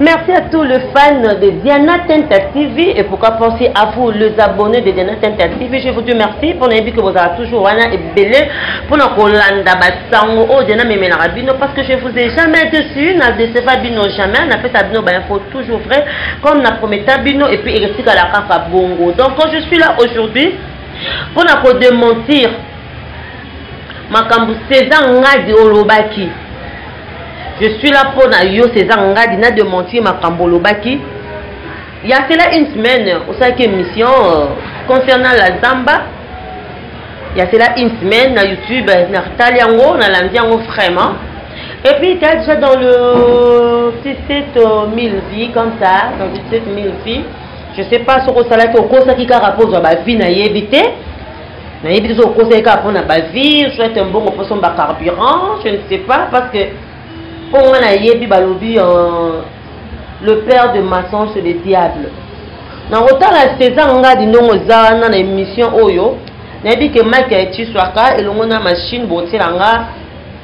Merci à tous les fans de Diana Tenta TV et pourquoi pas aussi à vous les abonnés de Diana Tenta TV. Je vous dis merci pour les que vous avez toujours wana et belé pour nos Kolanda Batsango oh Diana Memena Rabino parce que je vous ai jamais dessus n'a décevra Bino jamais n'a fait Bino ben info toujours vrai comme n'a promis Bino et puis il reste à la carte Bongo. Donc quand je suis là aujourd'hui pour nous démentir makambo César Ngadi olobaki je suis là mpo na yo césar ngadi na dementir makambo olobaki ya cela une semaine osalaki émission euh, concernant la zamba ya cela une semaine na youtube natali yango nalandi yango vraiment et puis tu as déjà dans le 17 000 vies comme ça dans 17 000 vies je sais pas soki osalaki okosaki kaka mpo ozwa bavie nayebi te nayebi tozo kokosa ye kaka mpona bavie soit mbongo posomba carburant je ne sais pas parce que mpo nga nayebi balobi euh, le père de maçon c'est le diable nakotala césar ngadi ndongo eza wana na émission oyo nayebi ke mike ya etiswaka elongo na machine botiela nga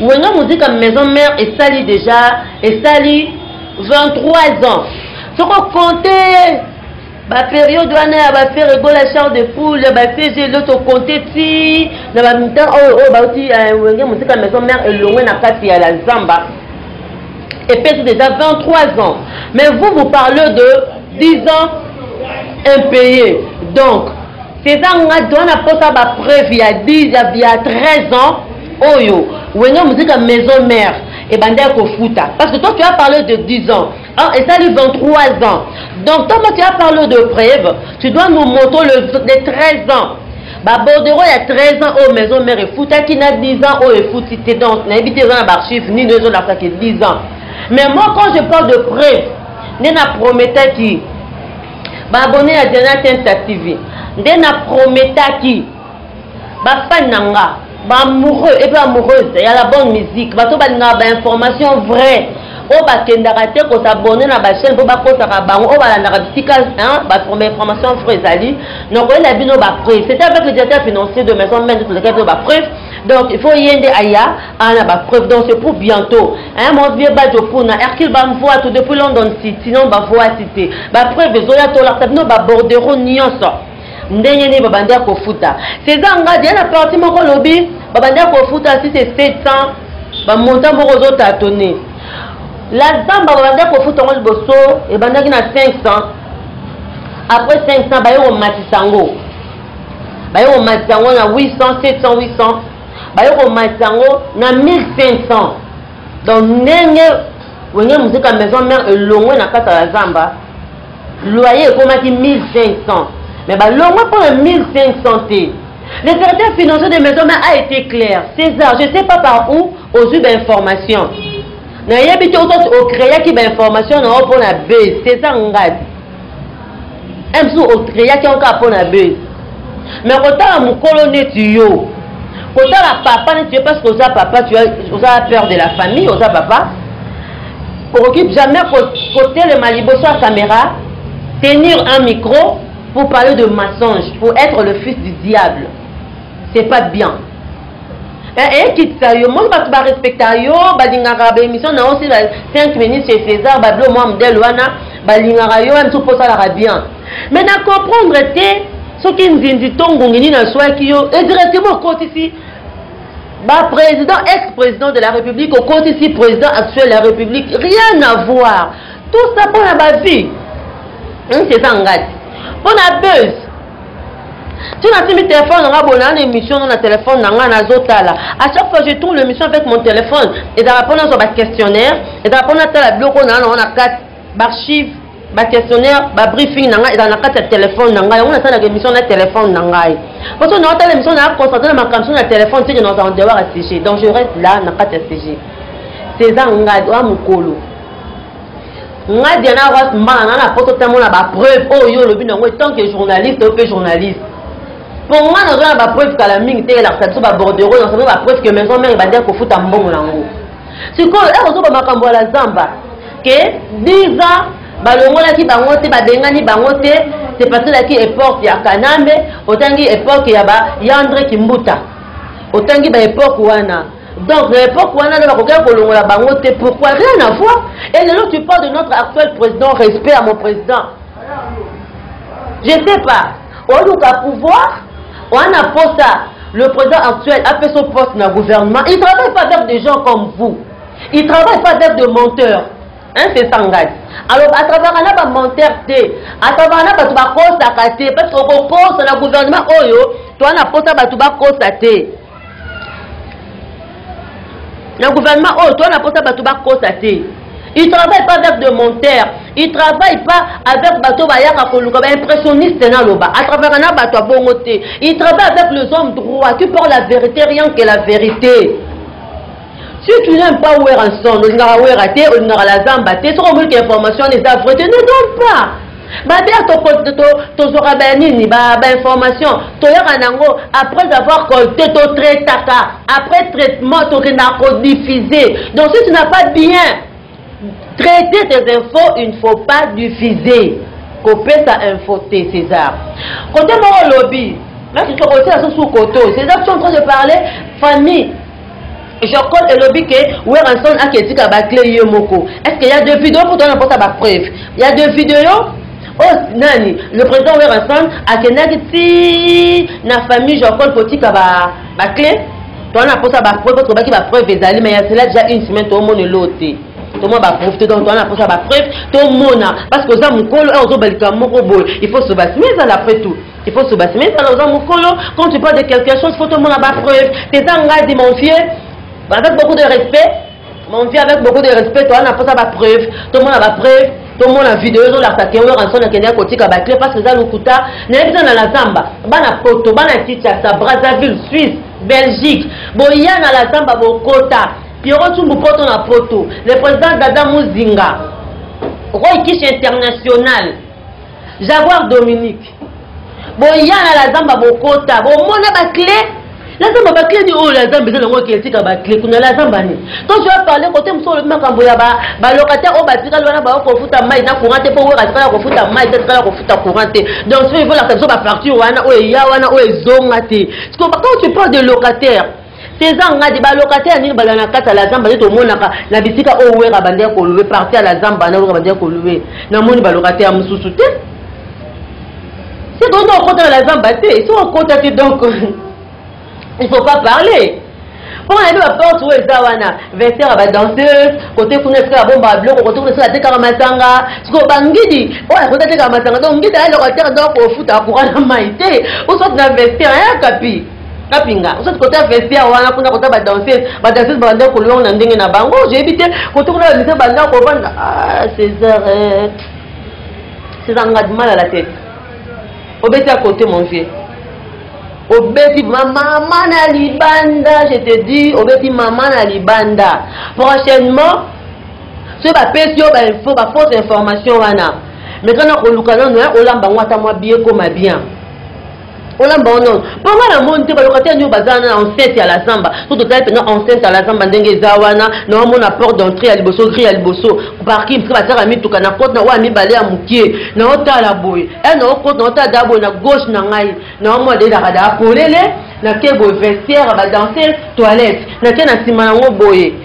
Wenga muzika maison mère esali deja esali 23 ans soko konte baperiode wana ya bafere egola char de poule ya bafege loto konte ti na bamitan oyo oyo bauti eh, wenge mosika maison mare elongwe na kati ya la zamba epesi déjà 23 ans mais vous vous parlez de 10 ans impayé donc Cesar Ngadu wana posa ba preuve ya 10 ya, ya 13 ans oyo wenge muzika maison mère ebandaki kofuta parce que toi tu as parlé de 10 ans hein, esali 23 ans donc toma tu as parlé de preuve tu dois nous montrer le, les 13 ans babordero ya 13 ans oyo maison mère efutaki na 10 ans oyo efuti te donc nayebi te eza na baarchive nini oyo ezolakisa ke 10 ans mais moi quand je parle de preuve nde na prometaki ba abonné ya Diana Tinta TV nde na prometaki ba fan na nga ba amoureux et ba amoureuse ya la bonne musique bato balingaka ba information vraie oyo bakendaka te kosabone na bachaine mpo bakosaka bango oyo balandaka bisika baforme information fre ezali nokoyela bino bapreuve c'est avec le directeur financier de maison mende tolekaki bino bapreuve donc il faut ye nde aya aa na bapreuve donc c'est pour bientôt hein, mon vieux badjo puna hercule bamvua to depuis london city non bavua cité bapreuve ezoya tolakisa bino babordero nyonso ndenge nini babandi ya kofuta césar ngadi ya na parti moko alobi babandi ya kofuta si c'est 700 bamontant moko ozotatone la zamba babandi ya kofuta yango liboso ebandaki na 500 après 500 baye komatisa yango baye komatisa yango na 800 700 800 baye komatisa yango na 1500 donc ndenge wenge muzika maison mare elongwe na kati ya zamba loyer ekomaki 1500 mais balongwe mpo na 1500 te le directeur financier de maison mare a été clair césar je sais pas par où ozwi bainformation nayebi te oto ocreaki bainformation na yo mpo na b césar ngadi un jour ocreaki yango kaka mpo na buzz me kotala mokolo neti yo kotala papa neti yo parce que oza papa oza père de la famille oza papa okoki jamais kotelema liboso ya caméra tenir un micro pour parler de mensonge pour être le fils du diable c'est pas bien Eh, eh, kitisa yo moni bato barespecta yo balingaka baémission na yo si 5 minutes chez césar babilo mwa modele wana balingaka yo wana soki osalaka bien mais na comprendre te soki nzinzi to ngungi nini aswaki yo e directement okotisi baprésident ex président de la république okotisi président actuel ya république rien à voir tout ça mpo na bavie hmm, césar ngati mpo na buse ti natimi telefone nanga boye naa na émission no na telefone na ngai nazotala à chaque fois je tourne l'émission avec mon téléphone ezalaka mpo nazwa baquestionnaire ezalaka mpo natala biloko naa nango na kati baarchive baquestionnaire babriefing na ngai ezala na kati ya telefone na ngai yango nasalaka émission na telefone na ngai mpo so naotala émission naa concentre na makambo so na telefone teke naoza en dehors ya sujet donc je reste là na kati ya sujet césar ngadi oya mokolo nga diana ross mbala na na poto te mona bapreuve oyo oh, yo olobi nango etant que journaliste oyo mpe journaliste mpo nga nazo na bapreuve kala mingi te elakisa biso babordero nasazo bapreuve que maison mare ebandi kofuta mbongo nango sikoyo ekozoba makambo ya la zamba ke 10 ans balongolaki bango te babengani bango te c'est parce elaki epoque ya kanambe otangi epoque ya ba yandre kimbuta otangi ba epoque wana Donc na époque wana nde bakokaki kolongola bango te pourquoi rien à voir et lelo tu parles de notre actuel président respect à mon président je sais pas oluka pouvoir wana posa le président actuel apesa o poste na gouvernement il travaille pas avec des gens comme vous il travaille pas avec de menteurs hein, c'est ça ngai alors atravaka na bamontere te atravaka na bato bakosaka te parce que okokosa na gouvernement oyo toa na mposa bato bakosa te na gouvernement oyo toa na mposa bato bakota te il travaille pas avec de monter il travaille pas avec bato bayaka koluka baimpressionniste naloba atravaka na bato abongo te il travaille avec les hommes droit qui parle la vérité rien que la vérité Si tu n'aimes pas Werrason, olingaka Werra te, olingaka la Zamba te, soki omoni que information wana eza vraie te, ne donne pas. Babe tozwaka ba nini ba ba information toyaka nango après avoir collecté to traitaka après traitement tokendaka ko diffuser donc si tu n'as pas bien Traiter des infos, il ne faut pas diffuser. kopesa info te césar kote moko olobi makikokotia susu koto césar tu en train de parler famille jacol elobi ke weranson ake etika bakle ye moko est ce que ya de video mpo tona mpota bapreuve ya de video oyo oh, nani le président weranson akendaki ti na famille jacol kotika bakle ba toza na mposa bapreuve oyo tobaki bapreuve ezali mai ya sela deja une semaine toomona eloo te tomona bapreuve te donc toza na mposa bapreuve tomona parce que oza mokolo a ozoba likambo moko boye il faut soba sima ezala après tout il faut soba sima ezala oza mokolo quand tu parle de quelque chose faut tomona bapreuve te eza ngai de mon vieux bazaki beaucoup de respect Mon Dieu, avec beaucoup de respect, toi, on a pas ba preuve, tout le monde a ba preuve, tout le monde a vidéo, tout la saté, on a son a kenya kotika ba clé parce que ça lokuta, n'a pas dans la zamba, bana poto, bana ticha, sa Brazzaville, Suisse, Belgique, boya na la zamba bokota, Pierrot Tumbu poto na poto, le président Dada Muzinga, Roy Kish international. Jaguar Dominique. Boya na la zamba bokota. Bomona ba clé. La zamba ba clé ni oh la zamba eza nango kiel tika ba clé kuna la zamba ni. Quand tu as parlé côté muso le makambo ya ba ba locataire o oh, ba tika lona ba ko futa mai na courant te po wera tika ko futa mai te tika ko futa courant te. Donc ce veut dire la facture wana o oh, ya wana o oh, ezonga te. Parce que quand tu parles de locataire Cesar Ngadi ba locataire nini bala na kata la zamba ndeto monaka na bisika o wera bande ko louer partie à la zamba na wera bande ko louer na moni ba locataire mususu te c'est donc on compte la zamba te si on compte te donc il faut pas parler mpo na yebi baporte oyo eza wana vester ya badanseuse kote kuna esika ya bomba ya biloko kote kuna esika atekaka masanga sikoyo bangidi oyo akoki atekaka masanga donc ngidi ayaloka tere donc kofuta courant na mai te osoti na vester ayakapi kapinga osati kota vestiaire wana kuna kota badanseuse badanseuse babanda kolonga na ndenge na bango oyebi te kota kuna bamise banda kobanda ah, césar eh. césar nga mal à la tête obeti à côté mon vieux obeti mama na libanda je te dis obeti mama na libanda prochainement soki bapesi yo bainfo bafausse information wana mais kana koluka nano olamba yango ata mwa biekoma bien olamba ono mpo nga na moni te balokatele nio baza wana na enceinte ya la zamba so totali mpenza enceinte ya la zamba ndenge eza wana na omona porte d'entrée ya liboso gri ya liboso parking mpe batiaka mituka na kote na oyo ya mibale ya moke na otala boye e na okote na otala daa boye na gauche na ngai na omona dedaka daa polele nake boye vestiaire badanse toilette nake na nsima yango boye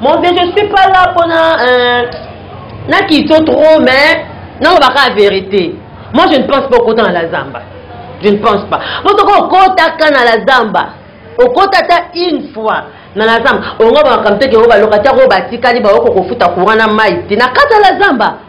Mon vieux, je suis pas là pour na, euh, na kito trop, mais non, on va la vérité. Moi, je ne pense pas au côté dans la zamba. Je ne pense pas. Moi, je au côté dans la zamba. Au côté une fois. na la zamba ongo bamakambo te ke oyo balokataka oyo batikali baoko kofuta courant na mai te na kati ya la zamba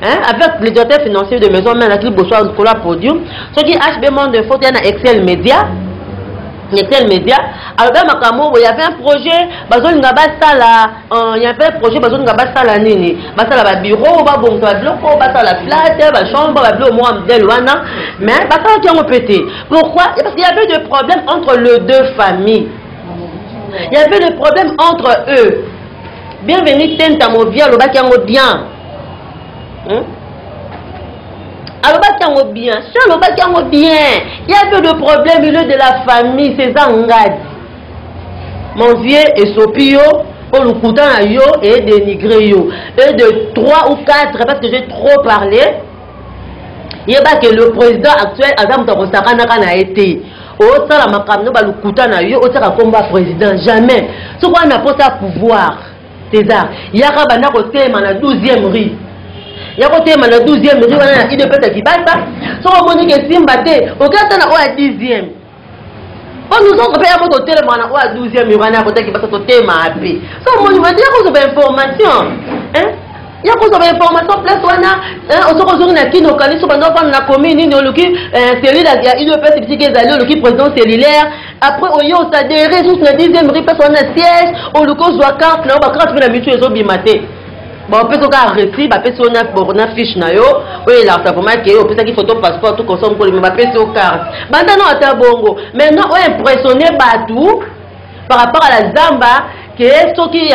Hein, avec le directeur financier de maison mère qui bosoa likolo ya podium soki hb monde info toya na excel média excel média alobi ya makambo boye yavait un projet bazolinga basala euh, yavait un projet bazolinga basala nini basala babiro babongisa babiloko basala flate bachambre babilo mwa modèle wana mais basalaki yango mpe te pourquoi parce qu'il y avait de problème entre le deux familles il y avait de problème entre eux bienvenu tenta movia alobaki yango bien hmm? alobaki yango bien si alobaki yango bien ya peu de problème ile de la famille ceza ngadi mon vieux esopi yo mpo lokuta na yo e dénigre yo e de 3 ou 4 parce que j'ai trop parlé yeba ke le président actuel aza moto akosakanaka na ye te osala makambo no balokuta na yo otiaka nkombo ya président jamais soki wana mposa pouvoir César, yaka banda kotelema na 12e rue yako telema na 12e rue wana na udps ya kibasa soki omoni ke simba te oke ata na oyo ya 10e mpo nozongo mpe yako totelema na oyo ya 12e rue wana yakota kibasa totelema mpe soki omoni mati yakozwa bainformation ya kozwa bainformation place wana osoki ozongi na kini okanisi obanda ofanda na commune nini oluki eh, cellule ya udps bisika ezali oluki président cellulaire après oye otadere lisusu na 10 rue place wana na siège oluki ozwa carte na yo bacarte mpe na mitu ezobima te bapesi oka aresi bapesi yo na fiche na yo oyo elakisa vraimen ke opesaki photo passeport to consom kolima bapesi yo carte banda no ata bongo maintenant oyo impressionne bato par rapport à la zamba ke soki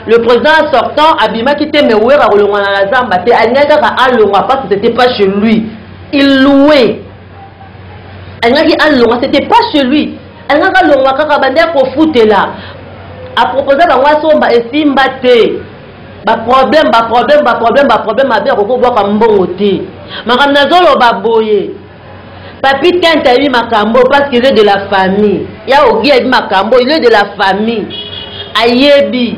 le président sortant abimaki te mewera kolongwana na zamba te alingaki kaka alongwa parce que c'était pas chez lui il louait alingaki alonga c'était pas chez lui alingaki alonga kaka bande ya kofutela aproposa bango asomba esimba te baproblème baproblème baproblème baproblème abe akoki kobwaka mbongo te makambo nazoloba boye papi tente ayebi makambo parce qu'il est de la famille ya ogi ayebi makambo il est de la famille ayebi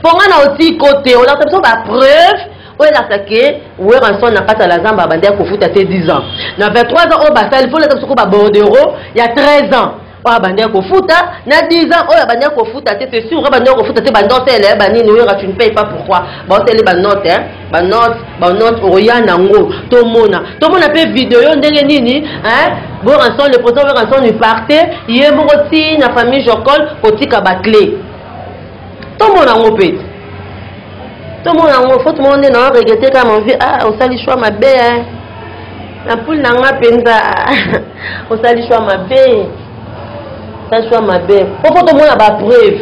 mpo ngai na otiko te olakisa biso bapreuve oyo elakisa ke weranson na kati ya la zamba abandi ya kofuta te 10 ans na 23 ans oyo basali mpo olakisa biso ko babordero ya 13 ans oyo abandi ya kofuta na 10 ans oyo abandi ya kofuta te c'est sûr abandi ya kofuta te banote eleye banini wera tu ne paye pas pourquoi baoteli banote banote banote okoya nango tomona tomona mpe video ndenge nini weranson le président weranson ipartite ye moko ti na famille jocole kotika baclé tomona yango mpe te tomona yango fo tomona nde na regrete kaka manvi a ah, osali shwa mabe eh. na pule na nga mpenza osali shwa mabe osali shwa mabe po fo tomona bapreuve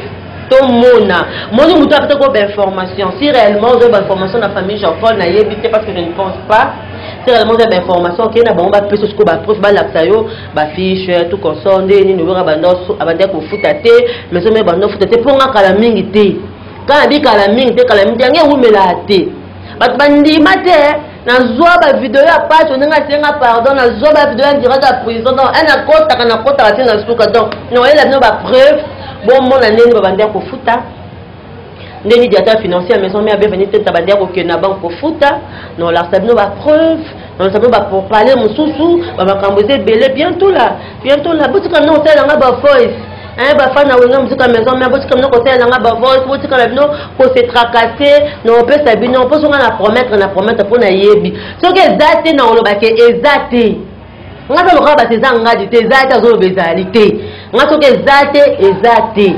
tomona moni moto apesa ko bainformation si réellement oza bainformation na famille jean paul nayebi te parce que je ne pense pas si réellement oza bainformation okei na bango bapesa sikoyo bapreuve balakisa yo bafiche ya tout consort nde nini oyora banda abandaki kofuta te maison me banda ofuta te mpo nga kala mingi te kala nabi kala mingi te kala mingi te yango ewumelaa te bato bandima te nazwa bavideo ya paso ndenge asenga pardon nazwa bavideo ya direct ya prison donc e nakotaka nakotaka te na suka donc nakoyela bino bapreuve bomona ndeni babandi ya kofuta nde nidi ata financier ya maison mère bienvenue te ta bandi akokende na banque kofuta na olakisa bino bapreuve na olakisa bino bapropale mosusu bamakambo eza ebele bientôt la bientôt la botika bino kosalela nga bavoice hein bafani na wenga mosuka maison mère botika bino kosalela nga bavoice botika na bino kose tracasse na opesa bino mposo nga na promettre na promettre mpo nayebi soki eza te na olobake eza te nga za lokola basi eza ngadi te eza te azoloba ezali te nga soki eza te eza te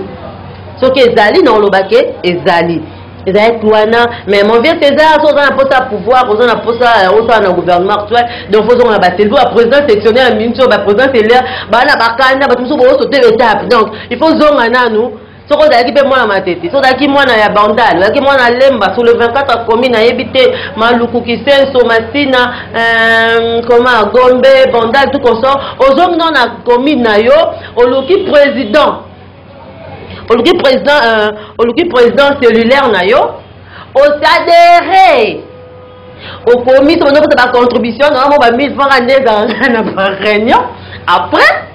soki ezali na oloba ke ezali ezalaki wana mais mon vieux césar so oza na mposa ya pouvoir oza na mposa ya osala na gouvernement actuel donc fozonga na baselbo baprésident sectionnaire ya minso baprésident selaire baa na bakanda bato mosusu booso te betape donc il faut zonga nanu soki ozalaki mpe mwana matete soki ozalaki mwana ya bandal ozalaki mwana lemba sur le 24 commune ayebi te maluku kisenso masina euh, koma gombe bandal tout consort ozongi no na commune na yo oluki président oluki président euh, oluki président cellulaire na yo osadere okomi soki oza kota bacontribution na yango ba 1000 franc nde ezalaka na baréunion après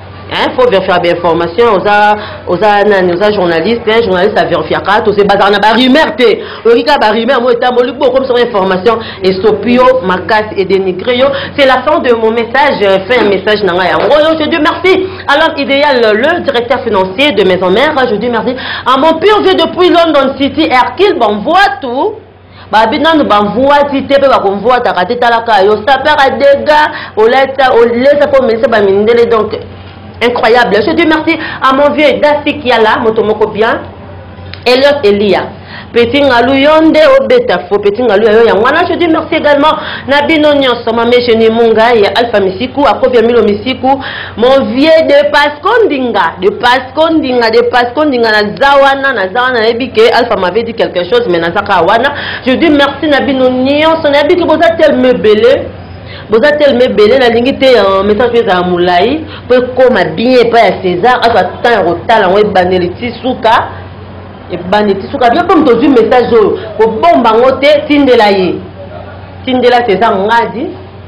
Hein, faut vérifier bien information oza oza nani oza journaliste hein, journaliste a vérifiaka toze bazala na ba rumeur te oyoki kaka ba rumeur moi etamboli bo okomisa ngo information esopi yo makasi e dénigre yo c'est la fin de mon message euh, fin ya message na ngai yango oyo je dis merci à l'homme idéal le directeur financier de maison mère je dis merci à mon pur vieux depuis london city erkil bon voit tout babi nanu bamvuati te mpe bakomvuataka te talaka yo sapaka dega oleta olesa mpo omelisa bamindele donc incroyable je dis merci à mon vieux dasi kiala moto moko bien eliot elia petit ngalu yo nde obeta fo petit ngalu ya yo yango wana je dis merci également na bino nyonso mame genie munga ya alpha misiku akobia milo misiku mon vieux de pasco ndinga de pasco ndinga de pasco ndinga naza wana naza wana nayebi ke alpha m'avait dit quelque chose mais naza kaka wana je dis merci na bino nyonso nayebi ke boza telme ebele boza telme ebele nalingi te euh, message oyo ezala molai mpo ekóma bien epai ya césar azwa temps ya kotala yango ebandeli ti suka ebandi ti suka bino mpe moto ozwi message oyo kobomba yango te tindela ye tindela césar ngadi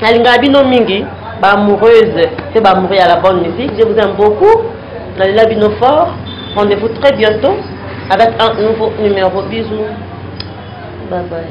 nalingaka bino mingi ba amoureuse mpe ba amoureux ya la bonne musique je vous aime beaucoup nalela bino fort rendez-vous très bientôt avec un nouveau numéro bisous bye bye